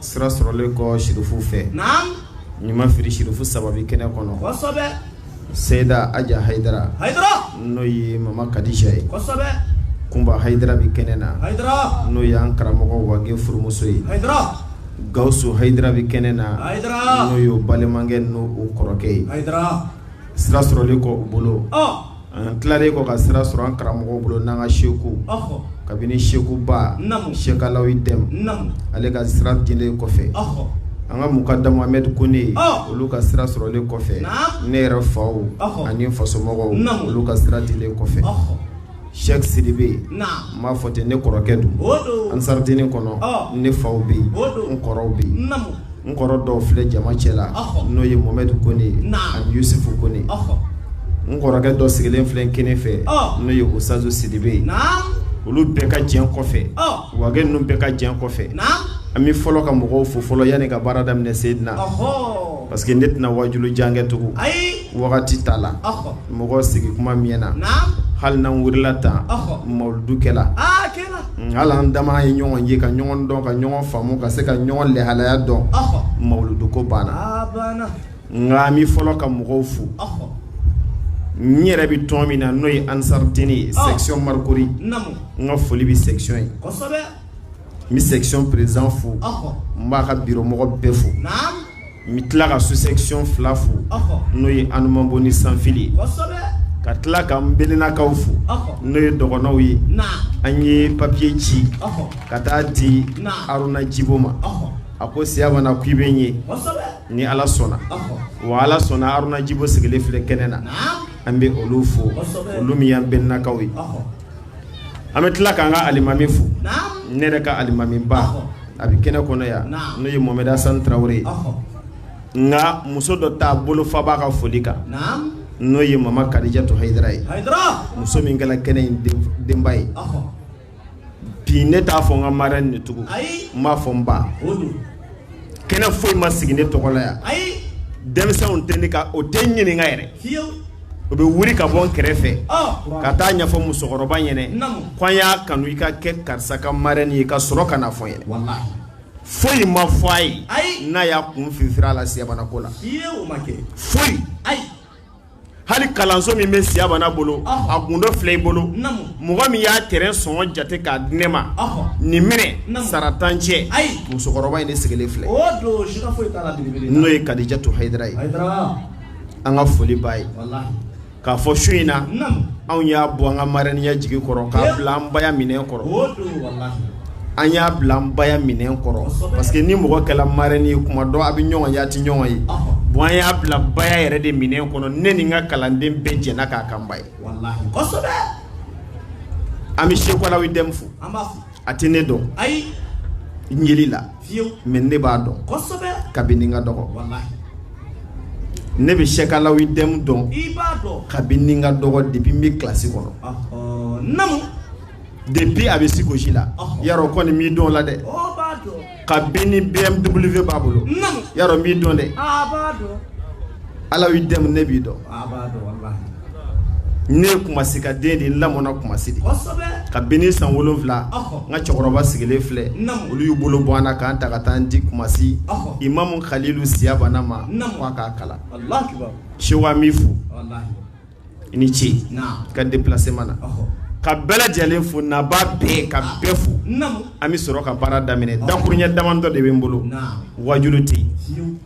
sira sɔrɔlen kɔ sirifu fɛ ni n ma fili sirifu saba bɛ kɛnɛ kɔnɔ Seyida Aja Hayidara n'o ye mama kadija ye Kunba Hayidara bɛ kɛnɛ na n'o y'an karamɔgɔ Wage furumuso ye Gawusu Hayidara bɛ kɛnɛ na n'o y'u balimakɛ n'u kɔrɔkɛ ye sira sɔrɔlen kɔ u bolo An tilalen kɔ ka sira sɔrɔ an karamɔgɔ bolo n'an ka seku kabini sekuba Sɛki Alawi Dɛm ale ka sira dilen kɔfɛ an ka mukadamu Amɛdi Kone olu ka sira sɔrɔlen kɔfɛ ne yɛrɛ faw ani fasomɔgɔw olu ka sira dilen kɔfɛ Sɛki Sidibe n b'a fɔ ten ne kɔrɔkɛ don Ansaridini kɔnɔ ne faw bɛ yen n kɔrɔw bɛ yen N kɔrɔ dɔw filɛ jama cɛ la n'o ye Mohamɛdi Kone ani Yusufu Kone n kɔrɔkɛ dɔ sigilen filɛ kinin fɛ n'o ye Usutazu Sidibe olu bɛɛ ka jɛn kɔfɛ Wage ninnu bɛɛ ka jɛn kɔfɛ an bɛ fɔlɔ ka mɔgɔw fo fɔlɔ yanni ka baara daminɛ Seyidina parce que ne tɛna waajuli jan kɛ tugun wagati t'a la mɔgɔ sigi kuma mɛɛnna hali n'an wulila tan mawuludu kɛ la hali an dama ye ɲɔgɔn ye ka ɲɔgɔn dɔn ka ɲɔgɔn faamu ka se ka ɲɔgɔn lahalaya dɔn mawuludu ko banna nka an bɛ fɔlɔ ka mɔgɔw fo n yɛrɛ bɛ tɔn min na n'o ye Ansaridini section Marcory n ka foli bɛ section ye n bɛ section président fo n b'a ka bureau mɔgɔ bɛɛ fo n bɛ tila ka sous-section fila fo n'o ye Anumanbo ni Sanfili ye ka tila k'an belenakaw fo n'o ye dɔgɔnɔw ye an ye papier ci ka taa di Aruna Jibo ma a ko siyabana ko i bɛ n ye ni Ala sɔnna wa Ala sɔnna Aruna Jibo sigilen filɛ kɛnɛ na an bɛ olu fo olu min y'an belenakaw ye. an bɛ tila k'an ka alimami fo ne yɛrɛ ka alimami ba a bɛ kɛnɛ kɔnɔ yan n'o ye Mohamɛdi Asani Tarawele ye nka muso dɔ ta bolofa b'a ka foli kan n'o ye mama Kadijatu Hayidara ye muso min kɛla kɛnɛ in denba ye bi ne t'a fɔ n ka marraine de tugun n b'a fɔ n ba kɛnɛ foyi ma sigi ne tɔgɔ la yan ayi denmisɛnw tɛ ne ka o tɛ n ɲininka yɛrɛ fiyewu o bɛ wuli ka bɔ n kɛrɛfɛ ɔ ka taa a ɲɛfɔ musokɔrɔba ɲɛnɛ Naamu. ko an y'a kanu i ka kɛ karisa ka marraine ye ka sɔrɔ ka na fɔ n ɲɛnɛ walahi foyi ma fɔ a ye Ayi. n'a y'a kun fifiri a la siyabanako la fiyewu o ma kɛ foyi ayi hali kalanso min bɛ siyabana bolo a gundo filɛ i bolo mɔgɔ min y'a terrain sɔngɔ jate k'a di ne ma nin minɛ sara tan cɛ musokɔrɔba in ne sigilen filɛ n'o ye Kadijatu Hayidara ye an ka foli b'a ye k'a fɔ su in na anw y'a bɔ an ka marɛniya jigi kɔrɔ k'a bila an baya minɛ kɔrɔ an y'a bila an baya minɛn kɔrɔ parce que ni mɔgɔ kɛla marraine ye kuma dɔ a bɛ ɲɔgɔn ye a tɛ ɲɔgɔn ye bon an y'a bila baya yɛrɛ de minɛn kɔnɔ ne ni n ka kalanden bɛɛ jɛna k'a k'an ba ye an bɛ Seku Alawi Dɛmu fo a tɛ ne dɔn n yeli la mais ne b'a dɔn kabini n ka dɔgɔ ne bɛ Seku Alawi Dɛmu dɔn kabini n ka dɔgɔ depuis n bɛ classe kɔnɔ. Depuis a bɛ se gosi la yarɔ kɔni n b'i dɔn la dɛ kabini BMW b'a bolo yarɔ n b'i dɔn dɛ Alawi Dɛmu ne b'i dɔn ne kumasi ka den de n lamɔna kumasi de kabini san wolonwula n ka cɛkɔrɔba sigilen filɛ olu y'u bolo bɔ n na ka n ta ka taa n di kumasi imamu kalilu siya banna ma k'a kalan Seku an b'i fo i ni ce ka déplacement na ka bɛɛ lajɛlen fo naba bɛɛ ka bɛɛ fo an bɛ sɔrɔ ka baara daminɛ dakuruɲɛ damadɔ de bɛ n bolo wajulu tɛ yen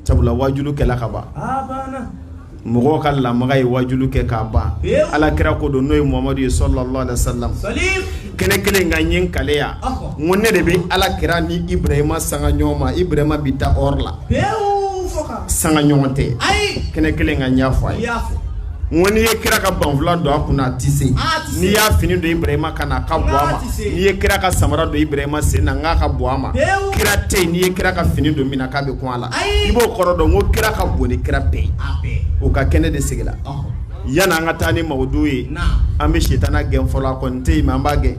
sabula wajulu kɛla ka ban mɔgɔw ka lamaga ye wajulu kɛ k'a ban ala kira ko don n'o ye muhamadu ye sallallahu alaihi wasallam kɛnɛ kelen kan n ye n kaleya ko ne de bɛ ala kira ni ibrahima sanga ɲɔgɔn ma ibrahima bɛ taa o la sanga ɲɔgɔn tɛ kɛnɛ kelen kan n y'a fɔ a ye ko n'i ye kira ka banfula don a kun na a tɛ se n'i y'a fini don ibrahima kan na a ka bon a ma n'i ye kira ka samara don ibrahima sen na n k'a ka bon a ma kira tɛ yen n'i ye kira ka fini don min na k'a bɛ kun a la i b'o kɔrɔ dɔn ko kira ka bon ni kira bɛɛ ye o ka kɛnɛ de sigila yanni an ka taa ni mawudu ye an bɛ sitana gɛn fɔlɔ a kɔni tɛ yen mais an b'a gɛn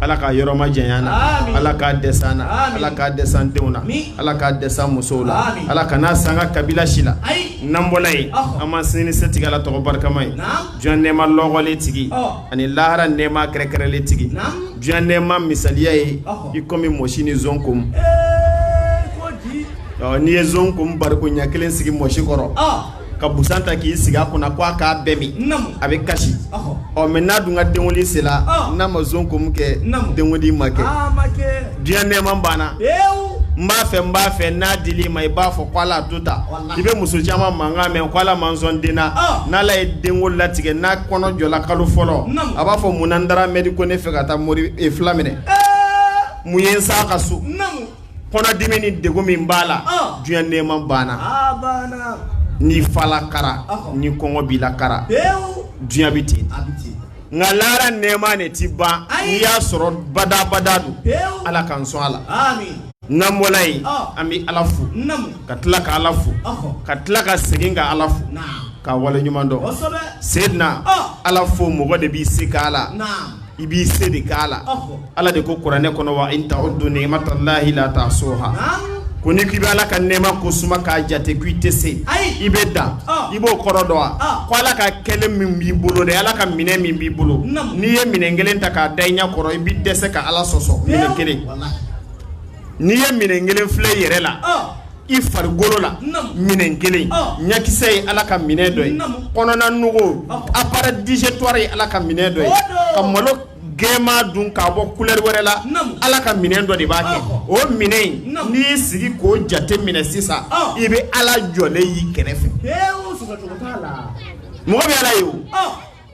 ala k'a yɔrɔ majanya an na ala k'a dɛsɛ an na ala k'a dɛsɛ an denw na ala k'a dɛsɛ an musow la ala kan'a s'an ka kabila si la n'an bɔla yen an ma sini setigi ala tɔgɔ barikama ye diɲɛ nɛɛma lɔkɔlen tigi ani lahara nɛɛma kɛrɛkɛrɛlen tigi diɲɛ nɛɛma misaliya ye i komi mɔsi ni zon kom n'i ye zon kom bariko ɲɛ kelen sigi mɔsi kɔrɔ ka busan ta k'i sigi a kunna ko a k'a bɛɛ min Naamu. a bɛ kasi Ɔhɔ. ɔ mais n'a dun ka denwuli sera Ɔ. n'a ma zon kom kɛ Naamu. denwuli ma kɛ Aa ma kɛ. diɲɛ nɛɛma banna Pewu. n b'a fɛ n b'a fɛ n'a dil'i ma i b'a fɔ ko ala to ta Walahi. i bɛ muso caman mankan mɛn ko ala ma n sɔn den na Ɔ. n'ala ye denko latigɛ n'a kɔnɔ jɔla kalo fɔlɔ Naamu. a b'a fɔ mun na n dara mɛri ko ne fɛ ka taa mori e fila minɛ Ee. mun ye n s'a ka so Naamu. kɔnɔdimi ni degun min b'a la ɔn diɲɛ nɛɛma banna a banna ni fala kara Ɔhɔ. ni kɔngɔ b'i la kara pewu diɲɛ bɛ ten a bɛ ten nka lahara nɛɛma ne ti ban Ayi. n'i y'a sɔrɔ badabada don pewu ala k'an sɔn a la ami n'an bɔla yen Ɔn. an bɛ ala fo namu ka tila ka ala fo ɔhɔ ka tila ka segin ka ala fo naam ka wale ɲuman dɔn kosɛbɛ seydina Ɔn. ala fo mɔgɔ de b'i se k'a la naam i b'i se de k'a la ala de ko kuranɛ kɔnɔ wa in ta'uddu ni'matallahi la tahsuha ko n'i k'i bɛ ala ka nɛɛma ko suma k'a jate ko i tɛ se i bɛ dan i b'o kɔrɔ dɔn wa ko ala ka kɛlɛ min b'i bolo dɛ ala ka minɛn min b'i bolo n'i ye minɛn kelen ta k'a da i ɲɛ kɔrɔ i bɛ dɛsɛ ka ala sɔsɔ minɛn kelen n'i ye minɛn kelen filɛ i yɛrɛ la i farikolo la minɛn kelen ɲakisɛ ye ala ka minɛn dɔ ye kɔnɔna nugu appareil digestoire ye ala ka minɛn dɔ ye ka malo gɛman dun k'a bɔ kulɛri wɛrɛ la ala ka minɛn dɔ de b'a kɛ o minɛn in n'i y'i sigi k'o jate minɛ sisan i bɛ ala jɔlen y'i kɛrɛfɛ mɔgɔ bɛ ala ye o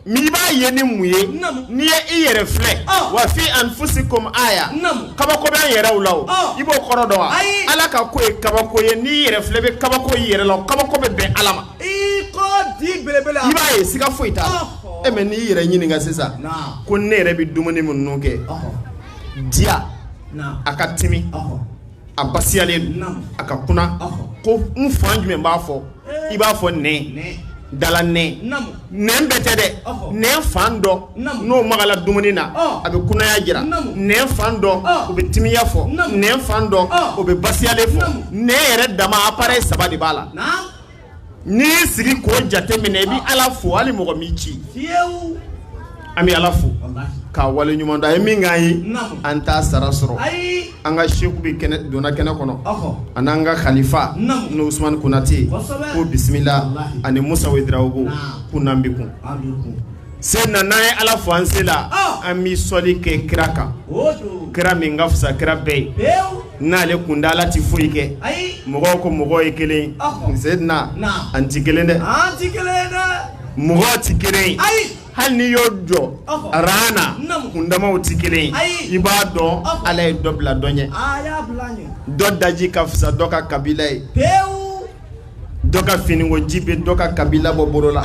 mɛ i b'a ye ni mun ye n'i ye i yɛrɛ filɛ wa fi anfusikum aya kabako bɛ an yɛrɛw la i b'o kɔrɔ dɔn wa ala ka ko ye kabako ye n'i yɛrɛ filɛ i bɛ kabako i yɛrɛ la kabako bɛ bɛn ala ma i b'a ye siga foyi t'a la mɛ n'i yɛrɛ ɲininka sisan ko ne yɛrɛ bɛ dumuni minnu kɛ diya a ka timi a basiyalen a ka kunan ko n fan jumɛn b'a fɔ i b'a fɔ nɛn dala nɛn bɛɛ tɛ dɛ nɛn fan dɔ n'o magala dumuni na a bɛ kunaya jira nɛn fan dɔ o bɛ timiya fɔ nɛn fan dɔ o bɛ basiyalen fɔ nɛn yɛrɛ dama appareil saba de b'a la n'i y'i sigi k'o jate minɛ i bɛ ala fo hali mɔgɔ m'i ci an bɛ ala fo k'a waleɲuman dɔn a ye min k'an ye an t'a sara sɔrɔ an ka seku bɛ donna kɛnɛ kɔnɔ ani an ka kalifa ni usman konatɛ ko bisimila ani musa wedrawogo ko n'an bɛ kun se na n'an ye ala fo an se la an bɛ sɔli kɛ kira kan kira min ka fisa kira bɛɛ ye n'ale kun tɛ ala tɛ foyi kɛ mɔgɔw ko mɔgɔ ye kelen zedina an tɛ kelen dɛ mɔgɔ tɛ kelen hali n'i y'u jɔ ran na kundamaw tɛ kelen i b'a dɔn ala ye dɔ bila dɔ ɲɛ dɔ daji ka fisa dɔ ka kabila ye dɔ ka finiko ji bɛ dɔ ka kabila bɔ bolo la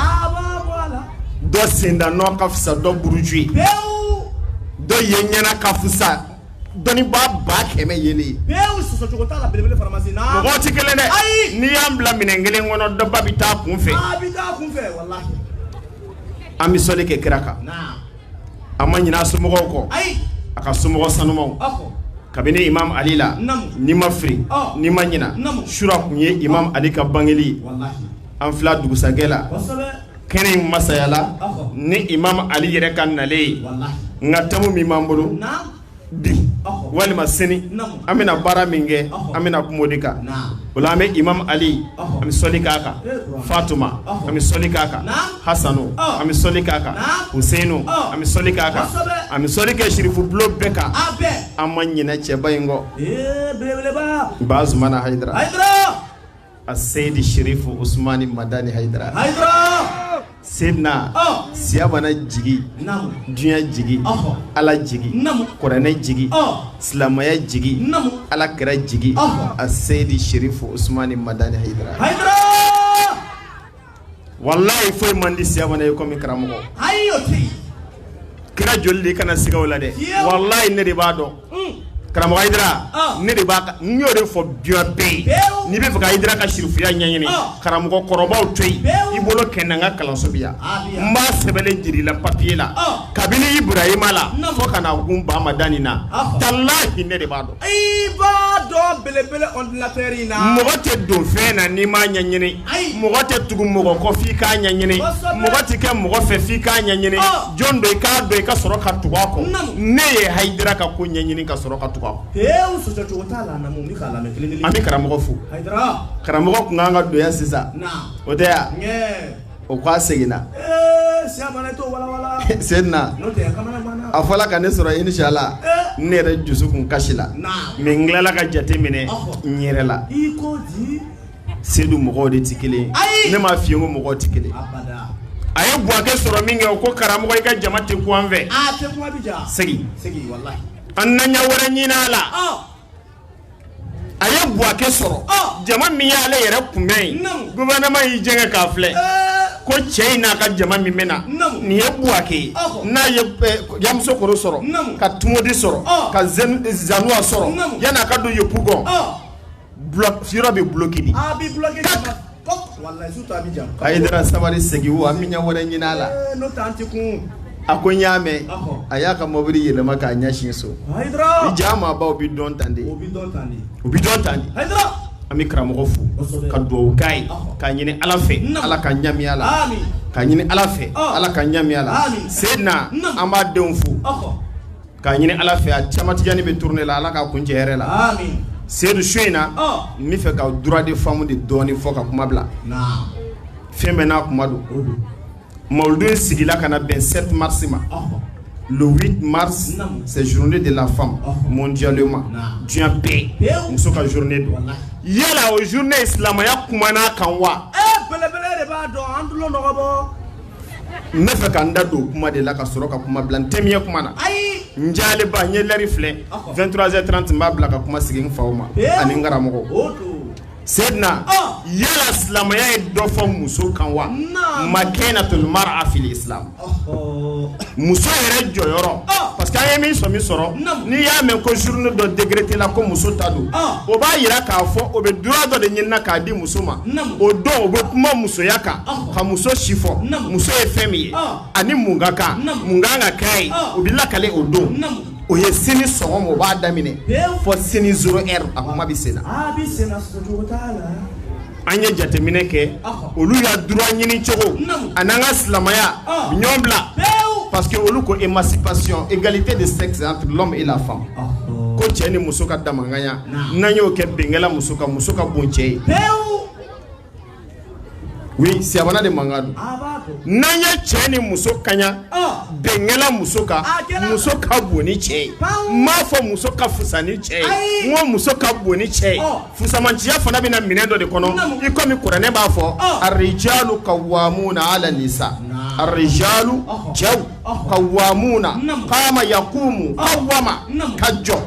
dɔ senda nɔ ka fisa dɔ buruju ye dɔ ye ɲɛ na ka fisa dɔnnibaa ba kɛmɛ yeli ye. bɛɛ y'u sɔsɔ cogo t'a la belebele faramasi na. mɔgɔw ti kelen dɛ. ayi n'i y'an bila minɛn kelen kɔnɔ dɔba bɛ taa kun fɛ. a bɛ taa kun fɛ walahi. an bɛ sɔli kɛ kira kan. an ma ɲinɛ a somɔgɔw kɔ. ayi a ka somɔgɔ sanumaw. kabini imam ali la. n'i ma fili. n'i ma ɲinɛ. sura tun ye imam ali ka bangeli ye. an filɛ dugusajɛ la. kɛnɛ in masayala ni imam ali yɛrɛ ka nalen ye nka tɛmu min b'an bolo bi walima sini an bɛna baara min kɛ an bɛna kuma o de kan o la an bɛ imam ali an bɛ sɔli k'a kan fatuma an bɛ sɔli k'a kan hasanu an bɛ sɔli k'a kan huseinu an bɛ sɔli k'a kan an bɛ sɔli kɛ sirifu bulon bɛɛ kan an ma ɲinɛ cɛba in kɔ bazumana hayidara a seyidi sherifu usumani madani hayidara hayidara senna oh. siya mana jigi dunya jigi oh. ala jigi kuranɛ jigi oh. silamaya jigi ala kira jigi a seyidi sherifu usumani madani hayidara walayi foyi man di siya ye kɔmi karamɔgɔ kira joli de i kana siga a la dɛ walayi ne de b'a dɔn hmm. karamɔgɔ hayidara ah. ne de b'a n y'o de fɔ diɲɛ bɛɛ ye n'i bɛ fɛ ka hayidara ka sirifuya ɲɛɲini ah. karamɔgɔ kɔrɔbaw to yen i boli ka na n ka kalanso bɛ yan n b'a sɛbɛnnen jira i la papiye la ah. kabini iburahima la fo ka na kun ba madani na talahi ne de b'a dɔn i b'a dɔn belebele ordinateur in na mɔgɔ tɛ don fɛn na n'i m'a ɲɛɲini mɔgɔ tɛ tugu mɔgɔ kɔ f'i k'a ɲɛɲini mɔgɔ tɛ kɛ mɔgɔ fɛ f'i k'a ɲɛɲini jɔn don i k'a dɔn i ka sɔrɔ ka tugu a kɔ ne ye hayidara ka ko ɲɛɲini ka sɔrɔ ka tugu a kɔ pewu sɔsɔcogo t'a la naamu n bɛ k'a lamɛn kelen kelen an bɛ karamɔgɔ fo karamɔgɔ tun ka kan ka don yan sisan o tɛ yan O ko a seginna senna a fɔra ka ne sɔrɔ inshallah ne yɛrɛ dusukun kasila mɛ n tilala ka jate minɛ n yɛrɛ la sedu mɔgɔw de tɛ kelen ne ma fiyen ko mɔgɔ tɛ kelen a ye buwake sɔrɔ minkɛ o ko karamɔgɔ i ka jama tɛ kun an fɛ segin an na ɲɛ wɛrɛ ɲinin a la a ye buwake sɔrɔ jama min y'ale yɛrɛ kunbɛn yen gouvernement y'i jɛngɛ k'a filɛ ko cɛ in n'a ka jama min bɛ na nin ye buwake ye n'a ye yamusokoro sɔrɔ ka tumodi sɔrɔ ka zanuwa sɔrɔ yan'a ka don yepugɔn yɔrɔ bɛ bloki de hayidara sabali segin o an bɛ ɲɛ wɛrɛ ɲinin a la a ko n y'a mɛn a y'a ka mɔbili yɛlɛma k'a ɲɛsin so diɲɛ maabaw bɛ dɔn tan de u bɛ dɔn tan de an bɛ karamɔgɔ fo ka dugawu k'a ye k'a ɲini ala fɛ ala k'an ɲɛ mɛɛn a la k'a ɲini ala fɛ ala k'an ɲɛ mɛɛn a la seyidina an b'a denw fo K'a ɲini Ala fɛ a cɛma Tijani bɛ tournée la Ala k'a kuncɛ hɛrɛ la, aami, seyidu su in na, ɔɔ, n bɛ fɛ ka droit de femme de dɔɔnin fɔ ka kuma bila, naamu, fɛn bɛɛ n'a kuma don, unhun, mawuludi in sigila ka na bɛn 7 mars ma, ɔhɔ, le 8 mars, naamu, c'est journée de la femme, ɔhɔ, mondialement, naamu, diɲɛ bɛɛ, pewu, muso ka journée don, walahi, yala o journée silamɛya kumana a kan wa? Ee belebele de b'a dɔn an tulo dɔgɔbɔ n bɛ fɛ ka n da don o kuma de la ka sɔrɔ ka kuma bila n tɛmɛ kuma na n jaleba n ye lɛri filɛ vingt-trois heures trente n b'a bila ka kuma sigi n fa ma ani n karamɔgɔ seyidina yala silamɛya ye dɔ fɔ muso kan wa makanatul mar'a fil islam muso yɛrɛ jɔyɔrɔ parce que an ye min sɔmi sɔrɔ n'i y'a mɛn ko journée dɔ décrétéla ko muso ta don o b'a jira k'a fɔ o bɛ droit dɔ de ɲini na k'a di muso ma o don o bɛ kuma musoya kan ka muso si fɔ muso ye fɛn min ye ani mun ka kan mun ka kan ka k'a ye o bɛ lakali o don o ye sini sɔgɔma o b'a daminɛ fɔ sini zéro heure a kuma bɛ sen na an ye jateminɛ kɛ olu y'a droit ɲini cogo a n'an ka silamɛya ɲɔgɔn bila parce que olu ko émancipation égalité de sexe entre l'homme et la femme ko cɛ ni muso ka damanganya n'an y'o kɛ bɛnkɛla muso ka muso ka bon cɛ ye oui siyabana de mankan don ah, n'an ye cɛ ni muso kaɲa ah. bɛnkɛla muso ka ah, muso ka bon ni cɛ ye n m'a fɔ muso ka fusa ni cɛ ye n ko muso ka bon ni cɛ ye oh. fusamanciya fana bɛ na minɛn dɔ de kɔnɔ i komi kuranɛ b'a fɔ oh. arijalu kawamuna ala nisa arijalu oh. cɛw kawamuna kaama yakumu kawama ka jɔ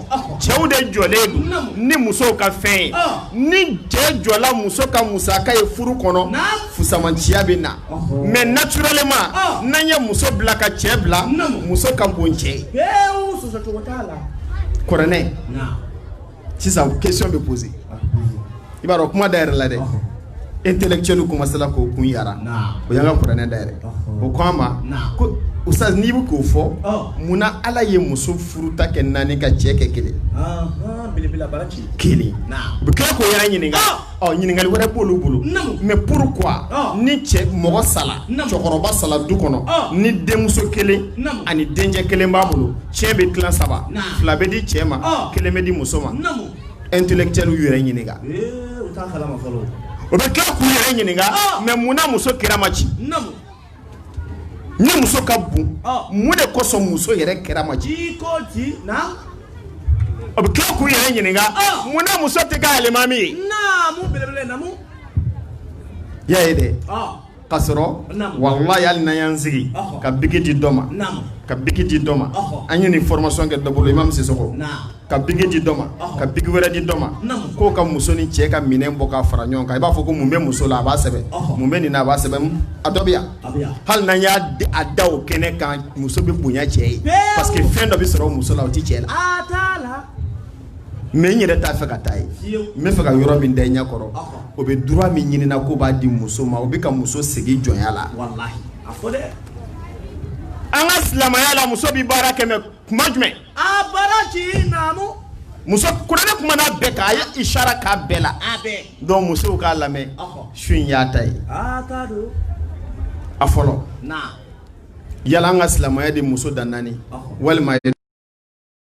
cɛw de jɔlen don ni musow ka fɛn ye ni cɛ jɔla muso ka musaka ye furu kɔnɔ fusamanciya bɛ na mais naturellement n'an ye muso bila ka cɛ bila muso ka bon cɛ ye kuranɛ sisan question bɛ poser i b'a dɔn kuma dayɛlɛla dɛ intellectuel commencéla k'o kun yara o y'an ka kuranɛ dayɛlɛ o ko an ma ko ustaz n'i bɛ k'o fɔ mun na ala ye muso furuta kɛ naani ka cɛ kɛ kelen kelen u bɛ tila k'o yɛrɛ ɲininka ɔ ɲininkali wɛrɛ b'olu bolo Naamu. mais pourquoi Ɔ. ni cɛ mɔgɔ sala Naamu. cɛkɔrɔba sala du kɔnɔ Ɔ. ni denmuso kelen Naamu. ani dencɛ kelen b'a bolo ciyɛn bɛ tilan saba Naamu. fila bɛ di cɛ ma Ɔ. kelen bɛ di muso ma Naamu. intellectuel y'u yɛrɛ ɲininka Ee, u t'a kalama fɔlɔ. o bɛ tila k'u yɛrɛ ɲininka Ɔ. mais mun na muso kira ma ci Naamu. ni muso ka bon mun de kosɔn muso yɛrɛ kira ma ci o bɛ tila k'u yɛrɛ ɲininka mun na muso tɛ kɛ alimami ye y'a ye dɛ ka sɔrɔ walayi ali n'a y'an sigi ka biki di dɔ ma ka biki di dɔ ma an ye nin formation kɛ dɔ bolo imam Sisoko ka biki di dɔ ma ka biki wɛrɛ di dɔ ma k'o ka muso ni cɛ ka minɛn bɔ k'a fara ɲɔgɔn kan i b'a fɔ ko mun bɛ muso la a b'a sɛbɛn mun bɛ nin na a b'a sɛbɛn a dɔ bɛ yan hali n'an y'a da o kɛnɛ kan muso bɛ bonya cɛ ye parce que fɛn dɔ bɛ sɔrɔ muso la o tɛ cɛ la mais n yɛrɛ t'a fɛ ka taa yen n b'a fɛ ka yɔrɔ min da i ɲɛ kɔrɔ o bɛ droit min ɲinina k'o b'a di muso ma o bɛ ka muso segin jɔnya la an ka silamɛya la muso bɛ baara kɛmɛ kuma jumɛn a baraji naamu muso kuranɛ kuman'a bɛɛ kan a ye isara k'a bɛɛ la a bɛɛ donc musow k'a lamɛn Ɔhɔ. su in y'a ta ye a t'a don a fɔlɔ na yala an ka silamɛya de muso dan naani Ɔhɔ. walima a ye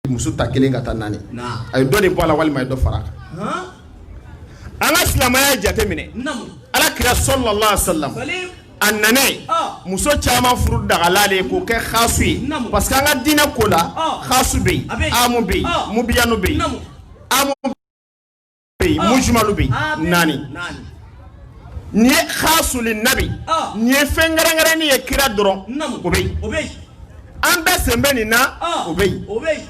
muso ta kelen ka taa naani na a ye dɔ de bɔ a la walima a ye dɔ fara a kan han an ka silamɛya jateminɛ naamu ala kira sallallahu alayhi wa sallam a nana muso caman furu dagala de k'o kɛ xasu ye parce que an ka diinɛ ko la xasu bɛ yen amu bɛ yen mubayanu bɛ yen amu bɛ yen mujumalu bɛ yen naani nin ye xasu li nabi nin ye fɛn kɛrɛnkɛrɛnnen ye kira dɔrɔn ye o bɛ yen an bɛɛ sen bɛ nin na o bɛ yen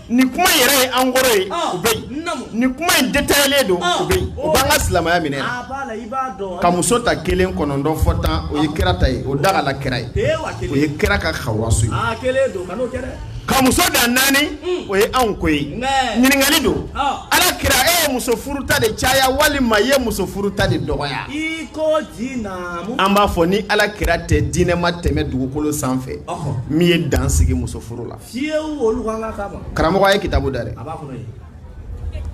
nin kuma yɛrɛ ye en gros ye o bɛ yen nin kuma in détaillélen don o bɛ yen o b'an ka silamɛya minɛna ka muso ta kelen kɔnɔntɔn fɔ tan o ye kira ta ye o dagala kira ye o ye kira ka xawasu ye ka muso dan naani mm. o ye anw ko ye ɲininkali don ala kira e ye muso furu ta de caya walima i ye muso furu ta de dɔgɔya an b'a fɔ ni ala kira tɛ diinɛ ma tɛmɛ dugukolo sanfɛ min ye dan sigi muso furu la karamɔgɔ ye kitabu da dɛ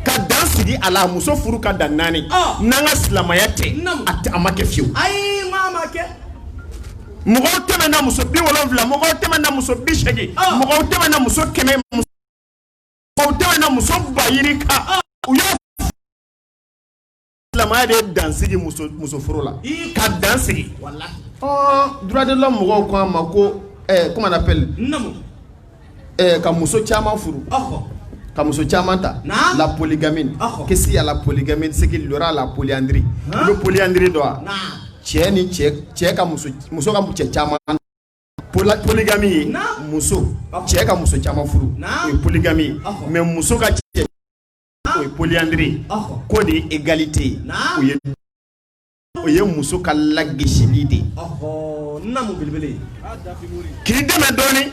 ka dan sigi a la muso furu ka dan naani n'an ka silamɛya tɛ a ma kɛ fiyewu mɔgɔw tɛmɛna muso bi wolonwula mɔgɔw tɛmɛna muso bi seegin mɔgɔw tɛmɛna muso kɛmɛ mɔgɔw tɛmɛna muso ba yirika u y'a silamɛya de ye dansigi muso muso furu la ii ka dansigi walahi ɔɔ droit de l'homme mɔgɔw ko an ma ko ɛɛ comment on appelle n naamu ɛɛ ka muso caman furu ɔhɔ ka muso caman ta Naam. la polygamie Ɔhɔ. que s'il y a la polygamie c'est qu'il y aura la polyandrie Han. i bɛ polyandrie dɔn wa naa cɛ ni cɛ cɛ ka muso muso ka cɛ caman Pola- polygamie ye Naam. muso Ɔhɔ. cɛ ka muso caman furu Naam. o ye polygamie ye Ɔhɔ. mais muso ka cɛ o ye polyandrie k'o de ye égalité ye o ye muso ka lagosili de ye k'i dɛmɛ dɔɔni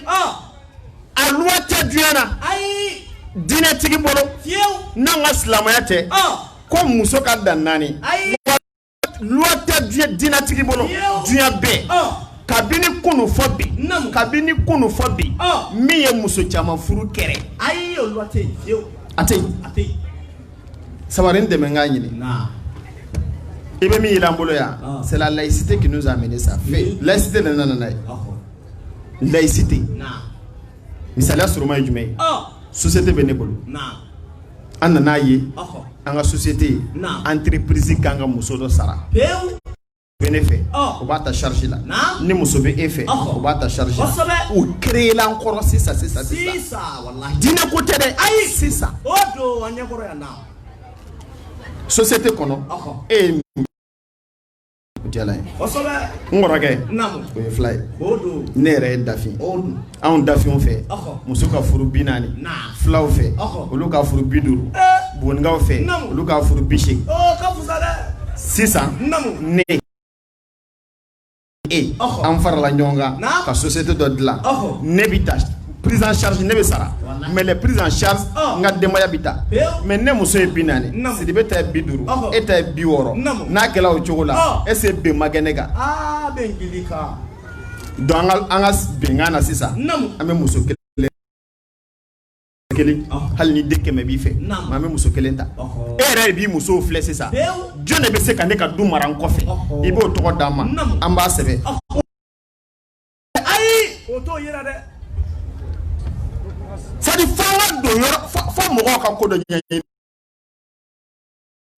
a loi tɛ diɲɛ na diinɛtigi bolo n'an ka silamɛya tɛ ko muso ka dan naani loi tɛ diinɛ diinɛtigi bolo diɲɛ bɛɛ kabini kunu fo bi kabini kunu fo bi min ye muso caman furu kɛrɛ ayi a tɛ sabari n dɛmɛ k'a ɲini i bɛ min an bolo yan c'est la laïcité qui nous a amené ça laïcité de nana n'a ye laïcité Misaliya surunma ye jumɛn ye société bɛ ne bolo an nana n'a ye an ka société entreprise ka ka muso dɔ sara bɛ ne fɛ u b'a ta charge la ni muso bɛ e fɛ u b'a ta charge o créer la encore sisan sisan sisan diinɛ ko tɛ dɛ ayi sisan société kɔnɔ e n kɔrɔkɛ o ye fula ye ne yɛrɛ ye dafin anw dafinw fɛ muso ka furu bi naani fulaw fɛ olu ka furu bi duuru bonkaw fɛ olu ka furu bi seegin sisan ne e an farala ɲɔgɔn kan ka société dɔ dilan ne bɛ ta prise en charge ne bɛ sara mais les prises en charge n ka denbaya bɛ ta mais ne muso ye bi naani Sidibe ta ye bi duuru e ta ye bi wɔɔrɔ n'a kɛla o cogo la est ce que bɛn ma kɛ ne kan donc an ka an ka bɛnkan na sisan an bɛ muso kelen kelen hali ni den kɛmɛ b'i fɛ mais an bɛ muso kelen ta e yɛrɛ de b'i musow filɛ sisan jɔn de bɛ se ka ne ka du mara n kɔfɛ i b'o tɔgɔ d'an ma an b'a sɛbɛn. ayi o t'o jira dɛ c'est à f'an ka don yɔrɔ fo mɔgɔw ka ko dɔ ɲɛɲini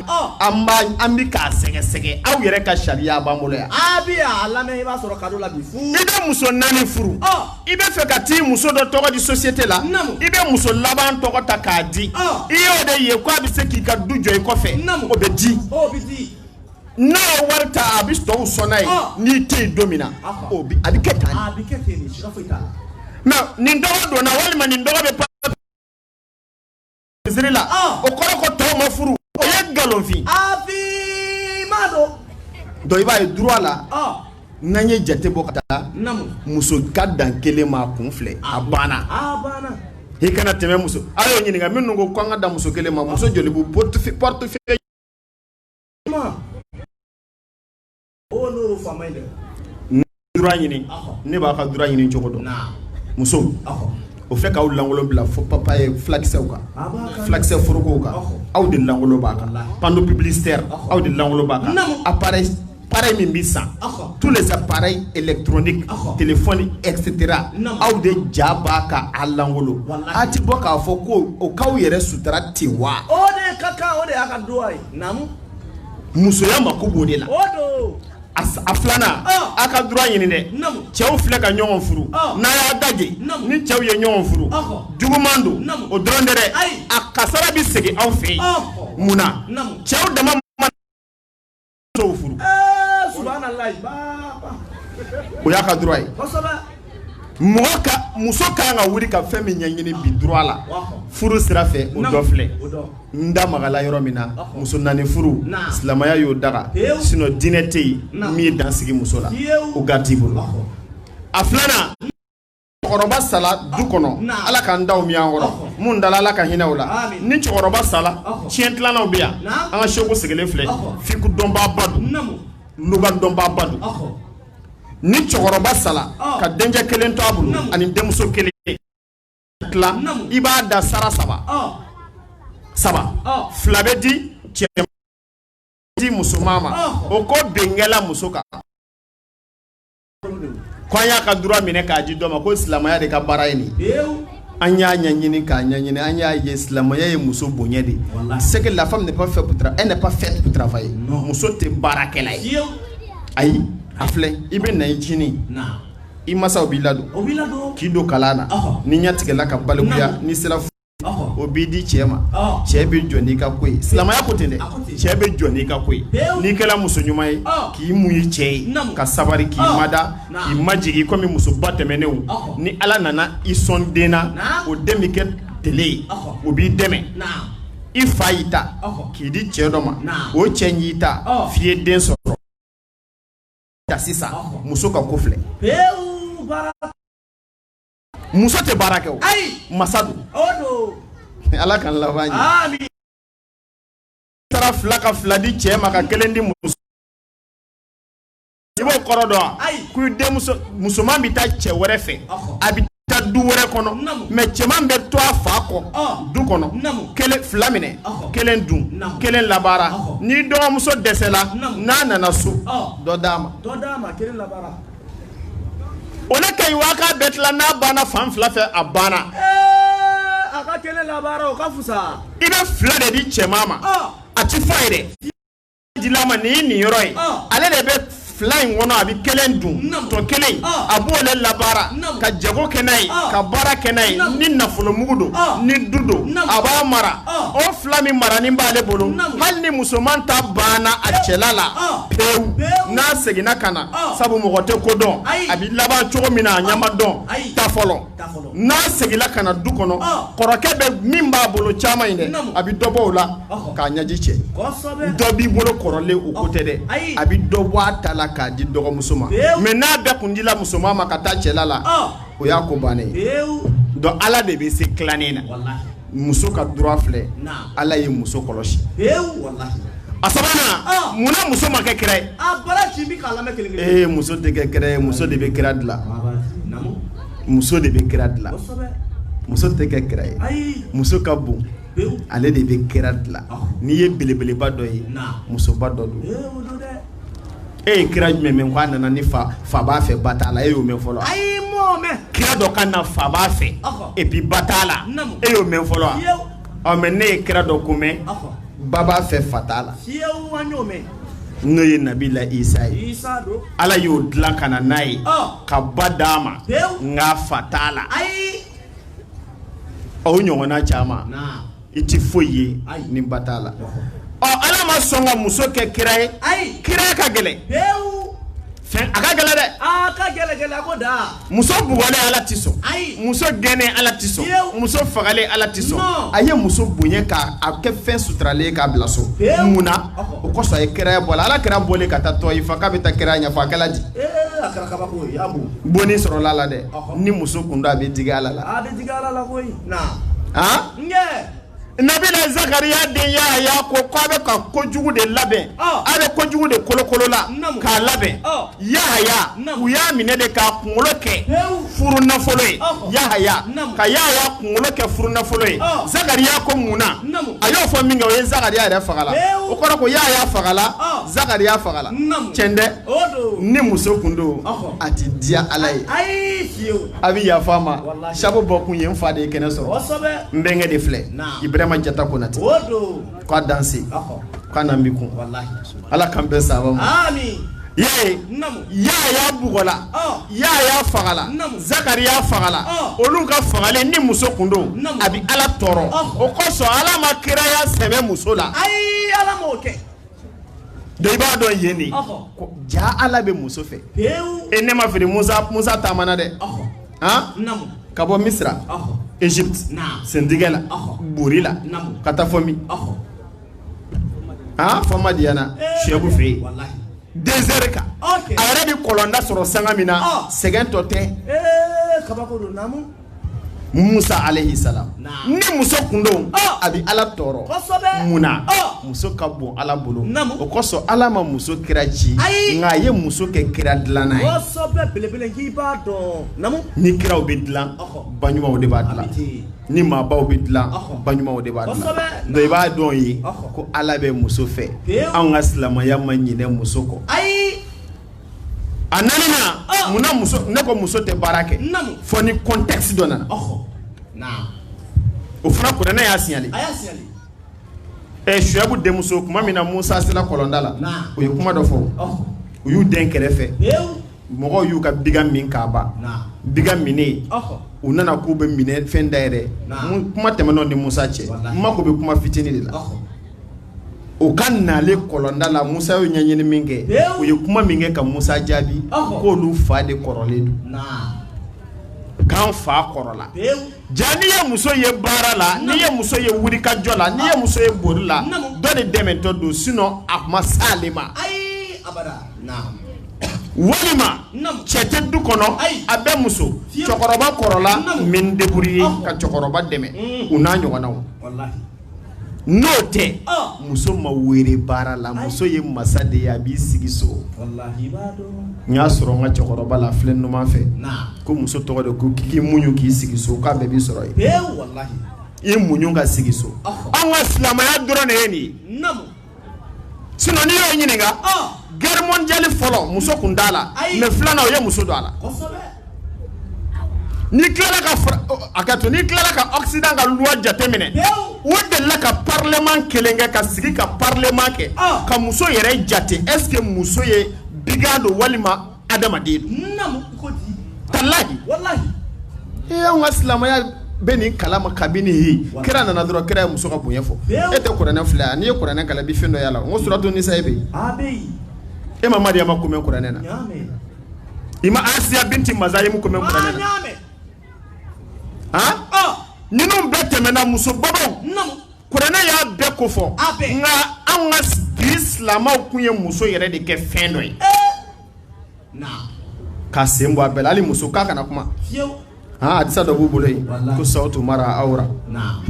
an b'a an bɛ k'a sɛgɛsɛgɛ aw yɛrɛ ka sariya b'an bolo yan. a bi a lamɛn i b'a sɔrɔ cadeau la bi fu. i bɛ muso naani furu. i bɛ fɛ ka t'i muso dɔ tɔgɔ di société la. namu i bɛ muso laban tɔgɔ ta k'a di. i y'o de ye ko a bɛ se k'i ka du jɔ i kɔfɛ. namu o bɛ di. o bɛ di. n'a ye wari ta a bɛ tɔw sɔn n'a ye n'i tɛ yen don min na o bi a bɛ kɛ tan a bɛ kɛ ten de siga foyi t'a la mais nin tɔgɔ donna walima nin tɔgɔ bɛ misiri la o kɔrɔ ko tɔw ma furu o ye nkalonfin m'a dɔn donc i b'a ye droit la n'an ye jate bɔ ka taa muso ka dan kelen ma kun filɛ a banna i kana tɛmɛ muso a y'o ɲininka minnu ko ko an ka dan muso kelen ma muso joli b'u portefeuille ɲini ne b'a ka droit ɲini cogo dɔn muso o fɛ k'aw lankolon bila fo papaye fulakisɛw kan fulakisɛ forokow kan aw de lankolon b'a kan panneau publicitaire aw de lankolon b'a kan appareil appareil min bɛ san tous les appareils électroniques téléphone etc aw de ja b'a kan a lankolon a ti bɔ k'a fɔ ko o k'aw yɛrɛ sutura ten wa o de ka kan o de y'a ka droit ye musoya mako b'o de la a filanan ah. a ka droit ɲini dɛ cɛw filɛ ka ɲɔgɔn furu ah. n'a y'a dajɛ ni cɛw ye ɲɔgɔn furu ah. juguman don o dɔrɔn tɛ dɛ a kasara bɛ segin aw fɛ yen mun na cɛw dama ma musow furu eh, o y'a ka droit ye muso ka kan ka wuli ka fɛn min ɲɛɲini bi droit la furu sira fɛ o dɔ filɛ n da magala yɔrɔ min na muso naani furu silamɛya y'o daga sinon diinɛ tɛ yen min ye dan sigi muso la o gati bolo a filanan cɛkɔrɔba sala du kɔnɔ ala k'an taw mɛɛn an kɔrɔ minnu dala ala ka hinɛ u la ni cɛkɔrɔba sala tiɲɛ tilalaw bɛ yan an ka seku sigilen filɛ fiku dɔnbaaba don luga dɔnbaaba don ni cɛkɔrɔba sala ka denkɛ kelen to a bolo ani denmuso kelen tila i b'a da sara saba saba fila bɛ di cɛ di musoman ma o ko bin kɛla muso kan ko an y'a ka droit minɛ k'a di dɔ ma ko silamɛya de ka baara ye nin an y'a ɲɛɲini k'a ɲɛɲini an y'a ye silamɛya ye muso bonya de c'est que la femme n'est pas faite pour travailler elle n'est pas faite pour travailler muso tɛ baarakɛla ye ayi a filɛ i bɛ na i ncinin i masaw b'i ladon k'i don kalan na n'i ɲɛ tigɛla ka balikuya n'i sera o b'i di cɛ ma cɛ bɛ jɔ n'i ka ko ye silamɛya ko ten dɛ cɛ bɛ jɔ n'i ka ko ye n'i kɛra muso ɲuman ye k'i muɲu cɛ ye ka sabali k'i mada i majigin komi musoba tɛmɛnenw ni ala nana i sɔn den na o den bɛ kɛ tele ye o b'i dɛmɛ i fa y'i ta k'i di cɛ dɔ ma o cɛ y'i ta f'i ye den sɔrɔ ta sisan muso ka ko filɛ muso tɛ baara kɛ o masa don ala k'an laban ɲɛ taara fila ka fila di cɛ ma ka kelen di muso i b'o kɔrɔ dɔn wa ko denmuso musoman bɛ taa cɛ wɛrɛ fɛ a bɛ taa du wɛrɛ kɔnɔ mais cɛman bɛ to a fa kɔ du kɔnɔ kelen fila minɛ kelen dun kelen labaara n'i dɔgɔmuso dɛsɛla n'a nana so dɔ d'a ma kelen labaara o le ka ɲi waa k'a bɛɛ tila n'a banna fan fila fɛ a banna a ka kelen labaara o ka fisa i bɛ fila de di cɛman ma a ti fa ye dɛ dil'a ma nin ye nin yɔrɔ ye ah. ale de bɛ fila in kɔnɔ a bɛ kelen dun tɔ kelen ah. a b'o le labaara ka jago kɛ n'a ye ah. ka baara kɛ n'a ye ni nafolomugu don ni du don a b'a mara o fila min marani b'ale bolo hali ni musoman ta banna a cɛla la pewu n'a seginna ka na sabu mɔgɔ tɛ ko dɔn a bɛ laban cogo min na a ɲɛ ma dɔn ta fɔlɔ n'a seginna ka na du kɔnɔ kɔrɔkɛ bɛ min b'a bolo caman in dɛ a bɛ dɔ bɔ o la k'a ɲɛji cɛ dɔ b'i bolo kɔrɔlen o ko tɛ dɛ a bɛ dɔ bɔ a ta la k'a di dɔgɔmuso ma mais n'a bɛɛ kun dila musoman ma ka taa cɛla la o y'a ko bannen ye donc ala de bɛ se tilannen na muso ka droit filɛ ala ye muso kɔlɔsi a sabanan munna muso ma kɛ kira ye muso tɛ kɛ kira ye muso de bɛ kira dilan muso de bɛ kira dilan muso tɛ kɛ kira ye muso ka bon ale de bɛ kira dilan n'i ye belebeleba dɔ ye musoba dɔ don e ye kira jumɛn mɛn k'a nana ni fa b'a fɛ ba t'a la e y'o mɛn fɔlɔ kira dɔ ka na fa b'a fɛ et puis ba t'a la e y'o mɛn fɔlɔ wa ɔ mais ne ye kira dɔ ko mɛn ba b'a fɛ fa t'a la n'o ye nabila isa ye ala y'o dilan ka na n'a ye ka ba d'a ma nka fa t'a la o ɲɔgɔnna caman i tɛ foyi ye ni ba t'a la ɔ ala ma sɔn ka muso kɛ kira ye kiraya ka gɛlɛn A ka gɛlɛn dɛ muso bugɔlen ala tɛ sɔn muso gɛnnen ala tɛ sɔn muso fagalen ala tɛ sɔn a ye muso bonya k' a kɛ fɛn suturalen k'a bila so mun na o kɔsɔn a ye kiraya bɔ a la ala kira bɔlen ka taa tɔyifa k'a bɛ taa kiraya ɲɛfɔ a kɛla di bonni sɔrɔla a la dɛ ni muso kun don a bɛ digi ala la Nabila zakariya den yahaya ko k' a bɛ ka ko jugu de labɛn a bɛ ko jugu de kolokolola k'a labɛn yahaya u y'a minɛ de k'a kunkolo kɛ furu nafolo ye yahaya ka yahaya kunkolo kɛ furu nafolo ye zakariya ko munna a y'o fɔ min kɛ o ye zakariya yɛrɛ fagala o kɔrɔ ko yahaya fagala zakariya fagala cɛn dɛ ni muso kun don a tɛ diya ala ye a bɛ yafa ma sabu bɔ kun ye n fa de ye kɛnɛ sɔrɔ n bɛnkɛ de filɛ ibrahima jata konatɛ k'a danse k'a na bi kun ala k'an bɛn saba ma yahaya bugɔla yahaya fagala zakariya fagala olu ka fagalen ni muso kun don a bɛ ala tɔɔrɔ o kosɔn ala ma kiraya sɛmɛ muso la i b'a dɔn yen de ja ala bɛ muso fɛ e ne ma fili musa taamana dɛ ka bɔ misira egypte sentigɛ la bori la ka taa fo min aa fo madiyana suyabu fɛ yen désert kan a yɛrɛ bɛ kɔlɔnda sɔrɔ sanga min na sɛgɛn tɔ tɛ musa alayhi salam ni muso kun don a bɛ ala tɔɔrɔ munna muso ka bon ala bolo o kosɔn ala ma muso kira ci nka a ye muso kɛ kira dilanna ye ni kiraw bɛ dila ba ɲumanw de b'a dila ni maabaw bɛ dila ba ɲumanw de b'a dila donc i b'a dɔn ye ko ala bɛ muso fɛ anw ka silamɛya ma ɲinɛ muso kɔ a nanana ah! munna muso ne ko muso tɛ baara kɛ fo ni contexte dɔ nana o fana kuranɛ y'a signalé ɛ suyabu denmuso tuma min na musa sera kɔlɔnda la u ye kuma dɔ fɔ u y'u den kɛrɛfɛ mɔgɔw y'u ka biga min k'a ban biga minnen u nana k'u bɛ min enfin d'ailleurs kuma tɛmɛn'o ni musa cɛ n mako bɛ kuma fitini de la u ka naale kɔlɔnda la musa y'u ɲɛɲini min kɛ u ye kuma min kɛ ka musa jaabi k'olu fa de kɔrɔlen don k'an fa kɔrɔla ja n'i ye muso ye baara la n'i ye muso ye wulikajɔ la n'i ye muso ye boli la dɔ de dɛmɛtɔ don sinon a ma s'ale ma walima cɛ tɛ du kɔnɔ a bɛ muso cɛkɔrɔba kɔrɔla min débrouiller ka cɛkɔrɔba dɛmɛ o n'a ɲɔgɔnnaw n'o tɛ muso ma wele baara la muso ye masa de ye a b'i sigi so n y'a sɔrɔ n ka cɛkɔrɔba la filɛ numan fɛ ko muso tɔgɔ de ko k'i muɲu k'i sigi so k'a bɛɛ b'i sɔrɔ yen i muɲu ka sigi so an ka silamɛya dɔrɔn de ye nin ye Sinon n'i y'o ɲininka, ɔn, guerre mondiale fɔlɔ muso kun t'a la, ayi, mais filanan u ye muso don a la, kosɛbɛ, n'i tilala ka fara hakɛto, n'i tilala ka occident ka loi jateminɛ, pewu, u delila ka parlement kelen kɛ ka sigi ka parlement kɛ, ɔn, ka muso yɛrɛ jate est ce que muso ye bigan don walima adamaden tallahi an ka silamɛya bɛ nin kalama kabini e kira nana dɔrɔn kira ye muso ka bonya fɔ e tɛ kuranɛ filɛ yan n'i ye kuranɛ kalan bi fɛn dɔ y'a la n ko suratu nisa e bɛ yen e ma mariyama ko mɛn kuranɛ na i ma asiya binti mazayimu ko mɛn kuranɛ na han ninnu bɛɛ tɛmɛna muso babaw Kuranɛ y'a bɛɛ ko fɔ, a bɛɛ, nka anw ka bi silamɛw kun ye muso yɛrɛ de kɛ fɛn dɔ ye, ee, naam, ka sen bɔ a bɛɛ la hali muso k'a kana kuma, fiyewu, han hadisa dɔ b'u bolo yen ko sawutu mara awra, naam,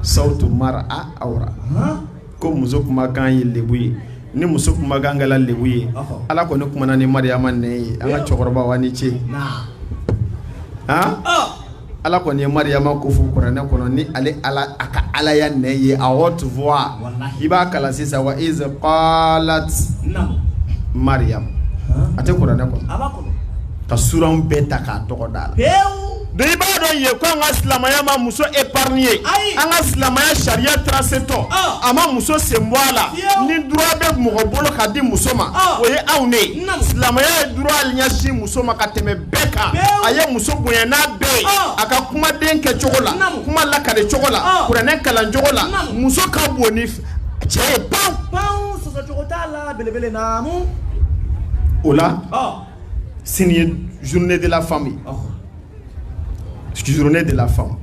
sawutu mara awra, han, ko muso kumakan ye lebu ye ni muso kumakan kɛra lebu ye, ɔhɔ, Ala kɔni kumana ni Mariyama nɛn ye an ka cɛkɔrɔbaw aw ni ce, naam, han, ɔ Ala kɔni ye Mariyama ko fɔ kuranɛ kɔnɔ ni ale Ala a ka Alaya nɛn ye à haute voix walahi i b'a kalan sisan wa iz qalat naamu Mariyam haan a tɛ kuranɛ kɔnɔ a b'a kɔnɔ ka suranw bɛɛ ta k'a tɔgɔ d'a la peewuu donc i b'a dɔn yen ko an ka silamaya ma muso épargner ayi an ka silamaya sariya tracé tɔ ɔɔ a ma muso sen bɔ a la fewu ni droit bɛ mɔgɔ bolo ka di muso ma ɔɔ o ye anw de ye naamu silamaya ye droit ɲɛsin muso ma ka tɛmɛ bɛɛ kan a ye muso bonya n'a bɛɛ ye a ka kumaden kɛ cogo la kuma lakale cogo la kuranɛ kalan cogo la muso ka bon ni cɛ ye baw baw sɔsɔcogo t'a la belebele naamu o la sini ye journée de la femme ye journée de la femme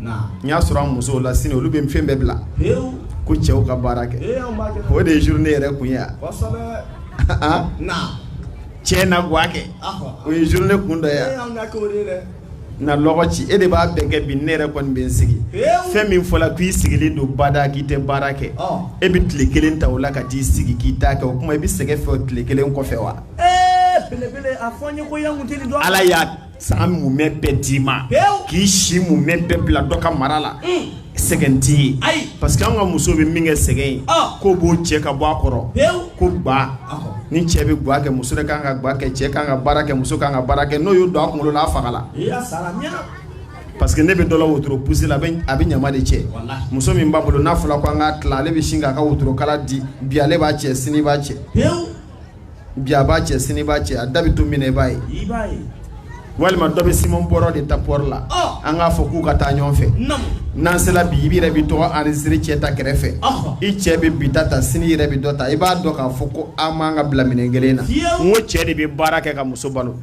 n'i y'a sɔrɔ an musow la sini olu bɛ fɛn bɛɛ bila ko cɛw ka baara kɛ o de ye journée yɛrɛ kun ye yan. cɛ na gwa kɛ o ye journée kun dɔ ye na lɔgɔ ci e de b'a bɛn kɛ bi ne yɛrɛ kɔni bɛ n sigi fɛn min fɔra k'i sigilen don bada k'i tɛ baara kɛ e bɛ tile kelen ta o la ka t'i sigi k'i ta kɛ o kuma i bɛ sɛgɛn fɛ o tile kelen kɔfɛ wa ala y'a san mumɛ bɛɛ d'i ma k'i si mumɛ bɛɛ bila dɔ ka mara la sɛgɛn t'i ye parce que an ka muso bɛ min kɛ sɛgɛn ye k'o b'o cɛ ka bɔ a kɔrɔ ko ba ni cɛ bɛ ga kɛ muso ka kan ka ga kɛ cɛ ka kan ka baara kɛ muso ka kan ka baara kɛ n'o y'o don a kunkolo la a fagala parce que i ɲɛ bɛ dɔ la wotoro pousséla a bɛ ɲama de cɛ muso min b'a bolo n'a fɔra ko an k'a tila ale bɛ sin k'a ka wotorokala di bi ale b'a cɛ sini b'a cɛ. bi a b'a cɛ sini b'a cɛ a da bɛ to min i b'a ye walima dɔ bɛ siman bɔrɔ de ta pɔɔri la an k'a fɔ k'u ka taa ɲɔgɔn fɛ n'an sera bi i yɛrɛ b'i tɔgɔ enregistrer cɛ ta kɛrɛfɛ i cɛ bɛ bi ta sini yɛrɛ bɛ dɔ ta i b'a dɔn k'a fɔ ko an man ka bila minɛn kelen na n ko cɛ de bɛ baara kɛ ka muso balo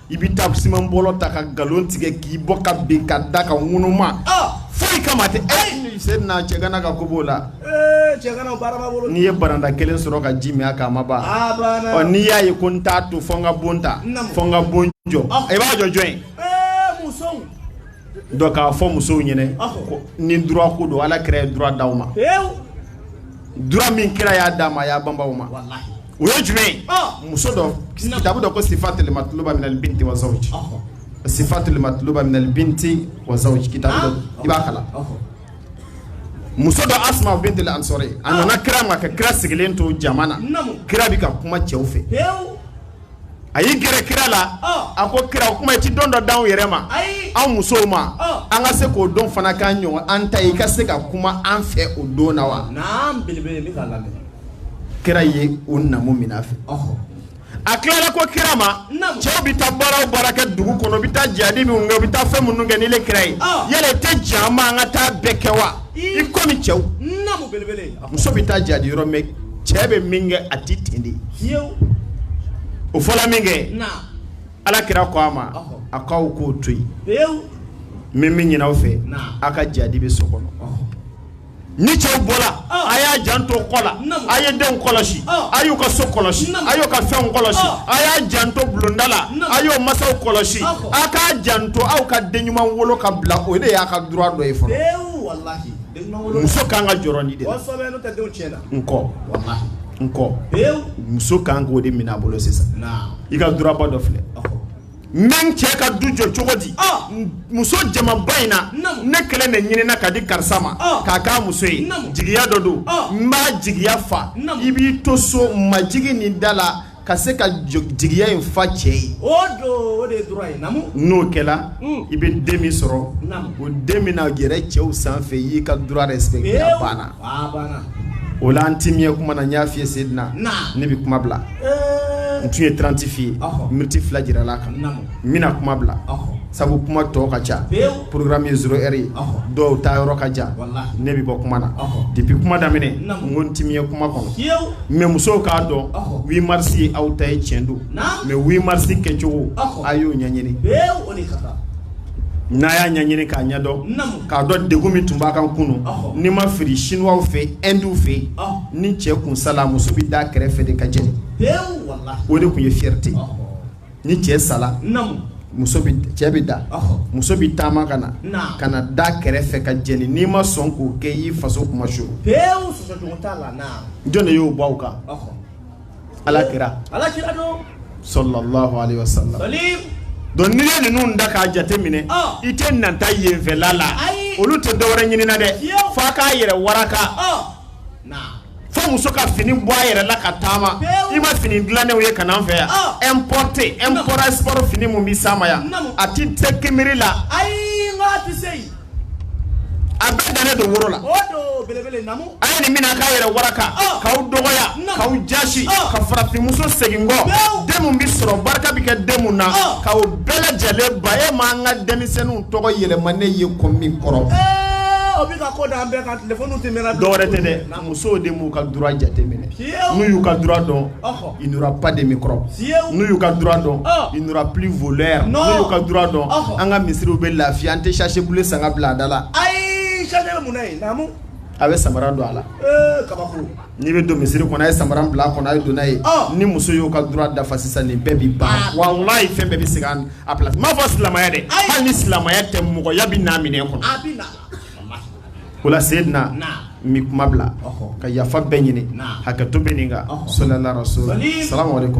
i bɛ taa siman bɔrɔ ta ka nkalon tigɛ k'i bɔ ka bin ka da ka ŋunuma foyi kama tɛ e se na cɛgana ka ko b'o la n'i ye baranda kelen sɔrɔ ka ji min a kan a ma ban ɔ n'i y'a ye ko n t'a to fɔ n ka bon ta fɔ n ka bon jɔ i b'a jɔ jɔn ye donc k'a fɔ musow ɲɛna ko ni droit ko don ala kira ye droit d'aw ma droit min kira y'a d'a ma a y'a banba o ma o ye jumɛn ye muso dɔ kitabu dɔ ko sifatul matluba minal binti wa zawji sifatul matluba minal binti wa zawji kitabu dɔ i b'a kalan muso dɔ Asma binti al-Ansari a nana kira ma ka kira sigilen to jama na kira bɛ ka kuma cɛw fɛ a y'i gɛrɛ kira la a ko kira o kuma i tɛ don dɔ d'anw yɛrɛ ma anw musow ma an ka se k'o don fana k'an ɲɔgɔn an ta ye i ka se ka kuma an fɛ o don na wa kira ye o namu min a fɛ a tilala ko kira ma cɛw bɛ taa baara o baara kɛ dugu kɔnɔ u bɛ taa jadi minnu kɛ u bɛ taa fɛn minnu kɛ n'ile kira ye yala i tɛ j'a ma an ka taa bɛɛ kɛ wa i komi cɛw muso bɛ taa jadi yɔrɔ mais cɛ bɛ min kɛ a tɛ ten dɛ o fɔla min kɛ ala kira ko a ma a k'aw k'o to yen n bɛ min ɲini aw fɛ aw ka jadi bɛ so kɔnɔ ni cɛw bɔra a y'a janto kɔ la a ye denw kɔlɔsi a y'u ka so kɔlɔsi a y'u ka fɛnw kɔlɔsi a y'a janto bulonda la a y'o masaw kɔlɔsi a k'a janto aw ka den ɲuman wolo ka bila o de y'a ka droit dɔ ye fɔlɔ muso ka kan ka jɔrɔ nin de kɔ muso ka kan k'o de minɛ a bolo sisan i ka droit ba dɔ filɛ n bɛ n cɛ ka du jɔ cogo di muso jamaba in na ne kelen de ɲinina ka di karisa ma k'a k'a muso ye jigiya dɔ don n b'a jigiya fa i b'i to so majigin ni da la ka se ka jigiya in fa cɛ ye o don o de ye droit ye naamu n'o kɛla hmm. i bɛ den min sɔrɔ o den min na yɛlɛ cɛw sanfɛ i y'i ka droit respecter a banna o la n ti miɲɛ kuma na n y'a f'i ye Seydina ne bɛ kuma bila eh. n tun ye 30 f'i ye miniti fila jirala a kan n bɛna kuma bila sabu kuma tɔ ka ca programme ye 0 heure ye dɔw ta yɔrɔ ka jan ne bɛ bɔ kuma na depuis kuma daminɛ n ko n ti miɲɛ kuma kɔnɔ mais musow k'a dɔn 8 mars ye aw ta ye tiɲɛ don mais 8 mars kɛcogo a y'o ɲɛɲini n'a y'a ɲɛɲini k'a ɲɛdɔn k'a dɔn degun min tun b'a kan kunu ni ma fili siniwaw fɛ indiw fɛ ni cɛ kun sala muso bɛ da kɛrɛfɛ de ka jeni o de tun ye fierté ni cɛ sala cɛ bɛ da muso bɛ taama ka na ka na da kɛrɛfɛ ka jeni n'i ma sɔn k'o kɛ i faso kuma so jɔn de y'o b'aw kan ala kira sallallahu alaihi wasallam donc n'i ye ninnu da k'a jate minɛ i tɛna taa yenfɛla la olu tɛ dɔwɛrɛ ɲini na dɛ f'a k'a yɛrɛ waraka fo muso ka fini bɔ a yɛrɛ la ka taama i ma fini dilannenw ye ka n'an fɛ yan ah. importé import export fini mun bɛ s'a ma yan a ti tɛ kunbiri la ayi n ko a ti se yen a bɛɛ dannen don woro la a ye nin mina k'a yɛrɛ waraka ah. k'aw dɔgɔya k'aw jasi ah. ka farafinmuso segin kɔ den mun bɛ sɔrɔ barika bɛ kɛ den mun na k'aw bɛɛ lajɛlen ba e m'an ka denmisɛnninw tɔgɔ yɛlɛma ne ye ko min kɔrɔ eh, o bɛ ka ko d'an bɛɛ kan Dɔwɛrɛ tɛ dɛ musow de m'u ka droit jate minɛ n'u y'u ka droit dɔn il n'y aura pas de microbe n'u y'u ka droit dɔn il n'y aura plus voleur n'u y'u ka droit dɔn an ka misiriw bɛ lafiya an tɛ sachet bleu san ka bila a da la ayi a bɛ samara don a la n'i bɛ don misiri kɔnɔ a ye samara bila a kɔnɔ a ye don n'a ye ni muso y'o ka droit dafa sisan nin bɛɛ bɛ ban walayi fɛn bɛɛ bɛ segin a place n m'a fɔ silamɛya dɛ hali ni silamɛya tɛ mɔgɔya bɛ n'a minɛ kɔnɔ wala se na mi kuma bila ka yafa bɛɛ ɲini hakɛ to bɛ nin sola so sara wɛrɛ ko